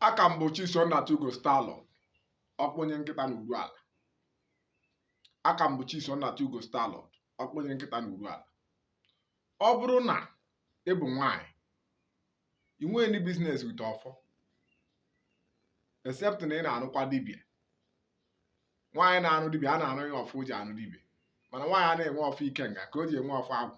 a ka m bụ Chisom Nnatugo Starlord ọkpụnye nkịta na Uruala a ka m bụ Chisom Nnatugo Starlord ọkpụnye nkịta na Uruala ọ bụrụ na ị bụ nwaanyị ị nweghị any business with ọfọ except na ị na-arụkwa dibia nwaanyị na-arụ dibia a na-arụ ya ọfọ o ji arụ dibia mana nwaanyị anaghị enwe ọfọ ikenga ka o ji enwe ọfọ agwụ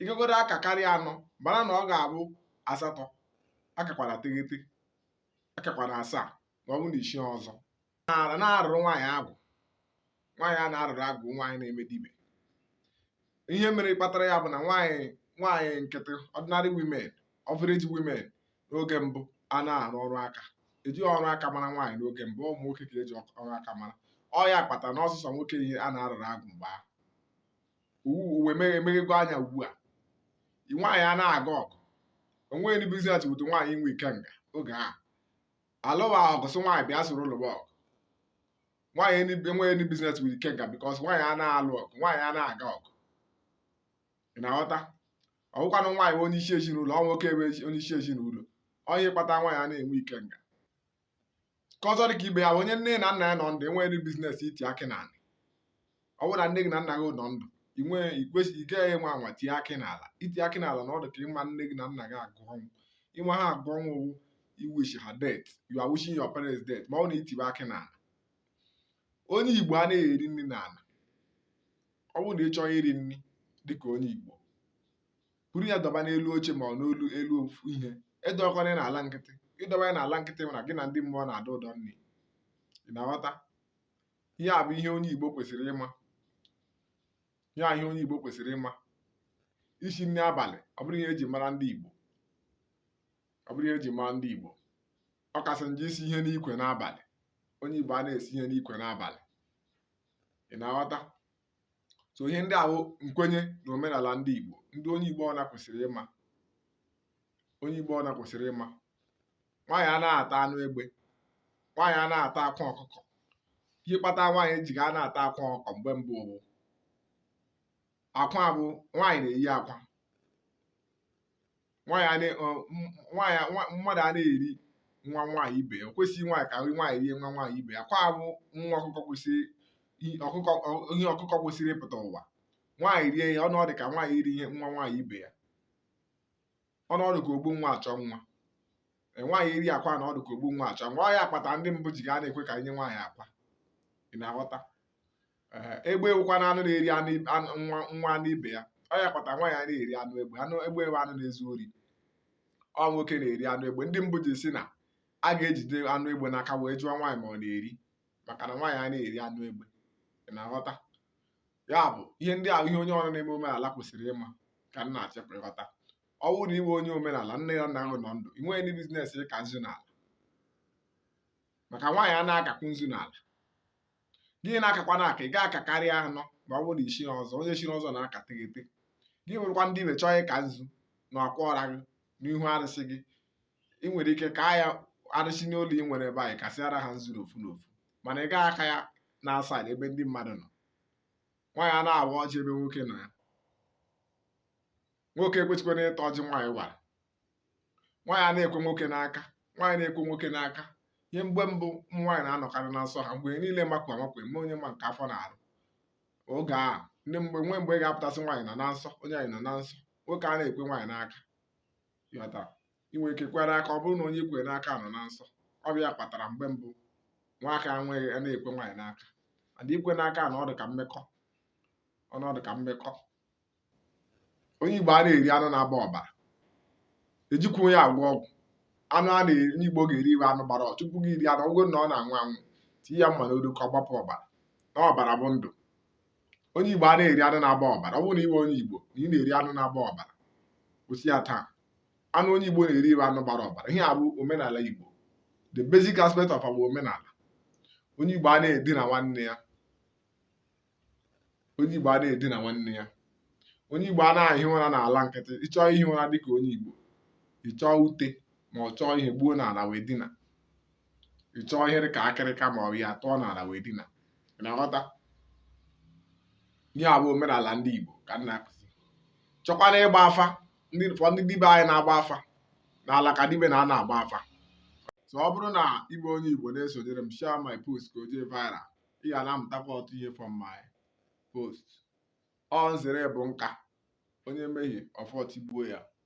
ị kagodo aka karịa anọ mara na ọ ga-abụ asatọ akakwana teghete akakwana asaa ma ọ bụ na isi ọzọ anaghị arụrụ nwaanyị agwụ nwaanyị a na-arụrụ agwụ nwaanyị na-eme dibia ihe mere kpatara ya bụ na nwaanyị nwaanyị nkịtị ordinary women average women n'oge mbụ anaghị arụ ọrụ aka ejighị ọrụ aka mara nwaanyị n'oge mbụ ụmụ nwoke ka e ji ọrụ aka mara ọ ya kpatara na ọ sọsọ nwoke ihe a na-arụrụ agwụ mgbe ahụ ụwa emeghego anya ugbu a nwaanyị anaghị aga ọgụ o nweghị any business with nwaanyị inwe ikenga oge a alụwa ọgụ sị nwaanyị bịa soro lụwa ọgụ nwaanyị ndị- enweghị any business with ikenga because nwaanyị anaghị alụ ọgụ nwaanyị anaghị aga ọgụ ị na-aghọta ọ bụkwanụ nwaanyị bụ onye isi ezinụlọ ọ nwoke bụ ezi- onye isi ezinụlọ ọ ya kpata nwaanyị anaghị enwe ikenga nke ọzọ dị ka ibe ya bụ onye nne na nna ya nọ ndụ enweghị any business iti akị n'ala ọ bụrụ na nne gị na nna gị nọ ndụ ị nwee ị kwesịghị ị gaghị anwa anwa tie akị n'ala iti akị n'ala na ọ dị ka ịma nne gị na nna gị agụ ọnwụ ịma ha agụ ọnwụ wụ iwish ha death you are wishing your parents death ma ọ bụ na i tibe akị n'ala onye igbo anaghị eri nri n'ala ọ bụrụ na ị chọ iri nri dịka onye igbo buru ya dọba n'elu oche ma ọ n'olu elu ofu ihe edọkwana ya n'ala nkịtị ị dọba ya n'ala nkịtị ma na gị na ndị mmụọ na-adọ ụdọ nri ị na-aghọta ihe a bụ ihe onye igbo kwesịrị ịma ihe a ihe onye igbo kwesịrị ịma isi nri abalị ọ bụrọ ihe e ji mara ndị igbo ọ bụrọ ihe e ji mara ndị igbo ọ kasị njọ isu ihe n'ikwe n'abalị onye igbo anaghị esu ihe n'ikwe n'abalị ị na-aghọta so ihe ndị a wụ nkwenye na omenala ndị Igbo ndị onye Igbo ọbụna kwesịrị ịma onye Igbo ọbụna kwesịrị ịma nwaanyị anaghị ata anụ egbe nwaanyị anaghị ata akwa ọkụkọ ihe kpata nwaanyị ji ga anaghị ata akwa ọkụkọ mgbe mbụ bụ akwa bụ nwaanyị na-eyi akwa nwaanyị a na- ọ, m- nwaanyị a- nwa- mmadụ anaghị eri nwa nwaanyị ibe ya o kwesịghị nwaanyị ka nwaanyị rie nwa nwaanyị ibe ya akwa bụ nwa ọkụkọ kwesịrị i- ọkụkọ ọ- ihe ọkụkọ kwesịrị ịpụta ụwa nwaanyị rie ya ọnụ ọ dị ka nwaanyị iri nwa nwaanyị ibe ya ọnụ ọ dị ka ogbu nwa achọ nwa Ee, nwaanyị iri akwa na ọ dị ka ogbu nwa achọ nwa ọ ya kpata ndị mbụ ji ga anaghị ekwe ka e nye nwaanyị akwa ị na-aghọta egbe wụkwa na anụ na-eri anụ nwa nwa anụ ibe ya ọ ya kpata nwaanyị a na-eri anụ egbe anụ egbe bụ anụ na-ezu ori ọ nwoke na-eri anụ egbe ndị mbụ ji si na a ga-ejide anụ egbe n'aka wee jụọ nwaanyị ma ọ na-eri maka na nwaanyị a na-eri anụ egbe ị na-aghọta ya bụ ihe ndị ahụ ihe onye ọbụla na-eme omenala kwesịrị ịma ka nna achịpụ ịghọta ọ bụrụ na ị wụ onye omenala nne gị na nna gị nọ ndụ ị nweghị any business ịka nzu n'ala maka nwaanyị a na-akakwu nzu n'ala gị na-akakwa na aka ị ga-aka karịa anọ ma ọ bụrụ na i chiri ọzọ onye chiri ọzọ na-aka teghete gị bụrụkwa dibe chọọ ịka nzu na akwa ọra gị n'ihu arụsị gị ị nwere ike ka ya arụsị n'ụlọ ị nwere ike kasịara ha nzu n'ofu n'ofu mana ị gaghị aka ya na outside ebe ndị mmadụ nọ nwaanyị a na-awa ọjị ebe nwoke nọ ya nwoke ekwechikwana ịta ọjị nwaanyị wara nwaanyị a na-ekwe nwoke n'aka nwaanyị na-ekwe nwoke n'aka ihe mgbe mbụ ụmụ nwaanyị na-anọkarị na nsọ ha mgbe niile makwa amakwa eme onye ma nke afọ na-arụ oge a ndị mgbe nwee mgbe ị ga-apụtasị nwaanyị nọ na nsọ nwaanyị nọ na nsọ nwoke a na-ekwe nwaanyị n'aka ịghọta ị nwere ike ikwe n'aka ọ bụrụ na onye ikwe n'aka nọ na nsọ ọ bụ ya kpatara mgbe mbụ nwoke a na-ekwe nwaanyị n'aka mana ikwe n'aka na ọ dị ka mmekọ ọ na-adị ka mmekọ onye Igbo a na-eri anụ na-agba ọbara ejikwa ya agwọ ọgwụ anụ a na-eri onye Igbo ga-eri wụ anụ gbara ọchụ tupu gị iri anụ ọ wụ na ọ na-anwụ anwụ tinye ya mma n'olu ka ọ gbapụ ọbara na ọbara bụ ndụ onye Igbo a na-eri anụ na-agba ọbara ọ bụrụ na ị wụ onye Igbo na ị na-eri anụ na-agba ọbara kwụsị ya taa anụ onye Igbo na-eri wụ anụ gbara ọbara ihe a bụ omenala Igbo the basic aspect of our omenala onye Igbo a na-edina nwanne ya onye Igbo a na-edina nwanne ya onye Igbo a na-ehi ụra n'ala nkịtị ịchọọ ihi ụra dịka onye Igbo ịchọọ ute ma ọ chọọ ihe gbuo n'ala wee dina ịchọọ ihe dịka akịrịka ma ọ bụ ya tụọ n'ala wee dina na-aghọta ihe a bụ omenala ndị Igbo ka m na-akụzi chọkwana ịgba afa ndị fọ ndị dibe anyị na-agba afa n'ala ka dibe na-anọ agba afa so ọ bụrụ na ị bụ onye Igbo na-esonyere m share my post ka o jee viral ị ga na-amụtakwa ọtụtụ ihe from my post ọ nzere bụ nka onye mehie ọfọ tigbuo ya